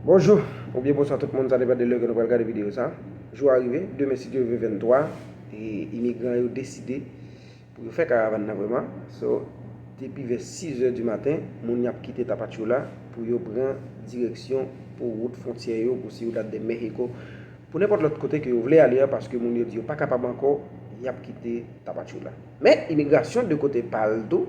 Bonjou ou byen bonswa tout moun sa depan de lè ke nou pral gade video sa jou a rive demen si Dye ve 23 e imigran yo deside pou yo fè karavan nan vreman so depi vè 6 è di maten moun yap kite tapachula pou yo pran direksyon pou wout fontyè yo pou Ciudad de México pou nenpòt lòt kote ke yo vle ale a paske moun yo di yo pa kapab ankò yap kite tapachula men imigrasyon de kote pal tou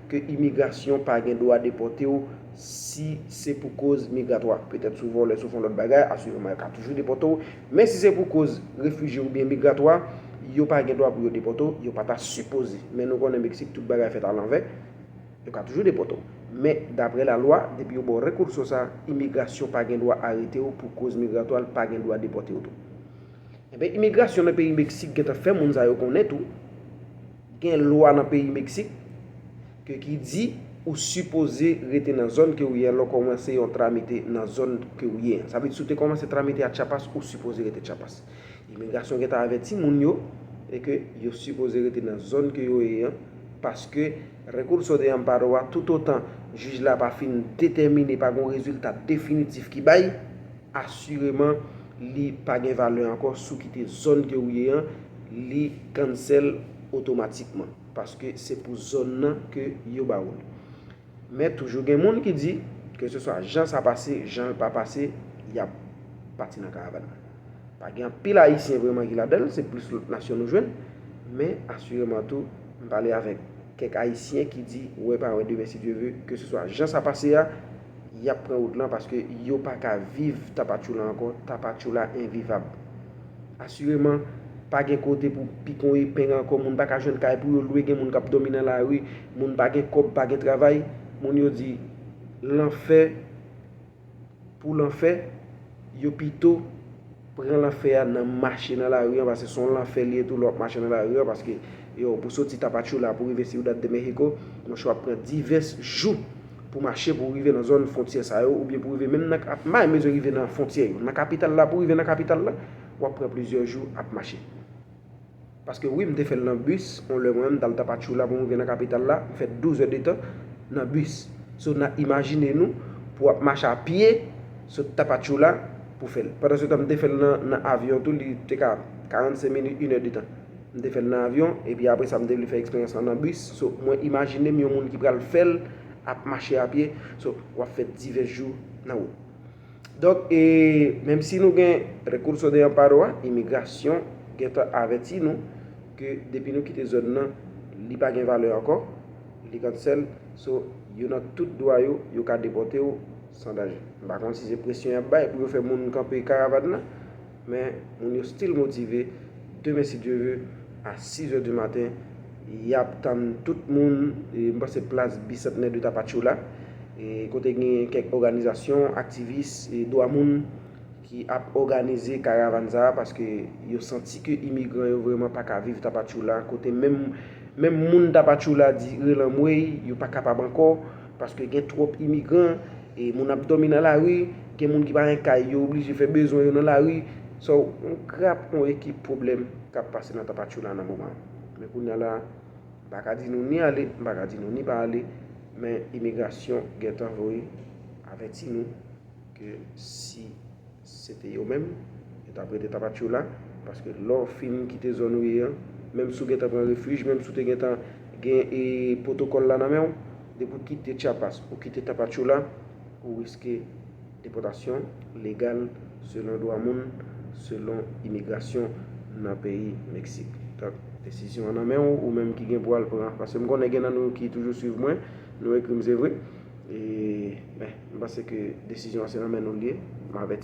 ke imigrasyon pa gen dwa depòte w si se pou koz migratwa. Petèt sou vòlè, sou fon lòt bagay, asirèman yo ka toujou depòte w, men si se pou koz refijye oubyen migratwa, yo pa gen dwa pou yo depòte w, yo pa ta sipoze. Men nou konnen Meksik tout bagay fèt alanvè, yo ka toujou depòte w. Men daprè lalwa, depi yo ba w rekurso sa, imigrasyon pa gen dwa arete w pou koz migratwa, l pa gen dwa depòte w tou. Enben imigrasyon nan peyi Meksik gentan fè moun sa yo konnen tou, Gen lwa nan peyi Meksik ke ki di ou sipoze rete nan zòn ke ou ye lè w kòmanse yon tramite nan zòn ke ou ye an. Sa vle di si w te kòmanse tramite a Chiapas, ou sipoze rete Chiapas. Imigrasyon gentan avèti moun yo e ke yo sipoze rete nan zòn ke yo ye an paske Recurso de Amparo a toutotan jij la pa fin detèmine, pa gen yon rezilta definitif ki bay, Asireman li pa gen valè ankò si w kite zòn ke ou ye an, li cancel otomatikman. Paske se pou zòn nan ke yo ba ou l. Men toujou gen moun ki di, ke se swa jan sa pase, jan l pa pase, y ap pati nan karavàn nan. Pa gen anpil ayisyen vreman ki ladan l, se plis lòt nasyon nou jwenn. Men asireman tou, m pale avèk kèk ayisyen ki di, wè pa wè demen si Dye ve, ke se swa jan sa pase a, Yap pran wout lan paske yo pa ka viv Tapachula ankò, Tapachula envivab. Asireman, pa gen kote pou pikon epeng ankò, moun pa ka jwenn kay pou yo lwe, gen moun kap dòmi nan lari, moun pa gen kòb, pa gen travay. Moun yo di, lanfè pou lanfè, yo pito. pran lanfè a nan mache nan lari an paske son lanfè li ye tou lè wap mache nan lari an paske yow pou soti Tapachula pou rive Ciudad de México monchè wap pran divès jou pou mache pou rive nan zòn fontyè sa yo oubyen pou rive menm nan ap may mezi rive nan fontyè yo nan kapital la pou rive nan kapital la wap pran plizyè jou ap mache. Paske wi m te fè l nan bus yon lè mwen menm m t al Tapachula pou m rive nan kapital la m fè 12 è de tan nan bus so na imajine nou pou w ap mache a pye sot Tapachula pou fè l pandan se tan m te fè l nan avyon tou li te ka 45 minit 1 è de tan m te fè l nan avyon epi apre sa m te vle fè eksperyans lan nan bus so mwen imajine m yon moun ki pral fè l ap mache a pye so w ap fè divès jou nan wout. Donk, menm si nou gen Recurso de Amparo a, imigrasyon gentan avèti nou ke depi nou kite zòn nan, li pa gen valè ankò, li cancel, so yo nan tout dwa yo, yo ka depòte w san danje. M pa konn si se presyon y ap bay pou yo fè moun kanpe karavan nan. Men moun yo still motive, demen si Dieu veut a 6 heures du matin yap tann tout moun, m panse plas Bicentenaire de Tapachula kote gen kèk òganizasyon aktivis dwa moun ki ap òganize karavan sa paske yo santi ke imigran yo vrèman pa ka viv Tapachula kote menm moun Tapachula di relanmwey yo pa kapab ankò. Paske gen twòp imigran, e moun ap dòmi nan lari, gen moun ki pa gen kay yo oblije fè bezwen yo nan lari. So, yon grap, yon ekip pwoblèm k ap pase nan Tapachula nan moman an. Men kounya la, m pa ka di nou ni ale, m pa ka di nou ni pa ale, men imigrasyon gentan voye avèti nou ke si. Se te yo menm, yo tap rete Tapachula, paske lè w fin kite zòn ou ye an, menm si w gentan pran refij, menm si w te gentan gen pwotokòl la nan men w, depi w kite Chiapas, ou kite Tapachula, ou riske depòtasyon legal selon dwa moun, selon imigrasyon nan peyi Meksik. Donk, desizyon an nan men w, ou menm ki gen pou w al pran. Paske m konnen gen nan nou ki toujou swiv mwen, nou ekri m se vre, men m panse ke desizyon an se nan men nou l ye, m avèti.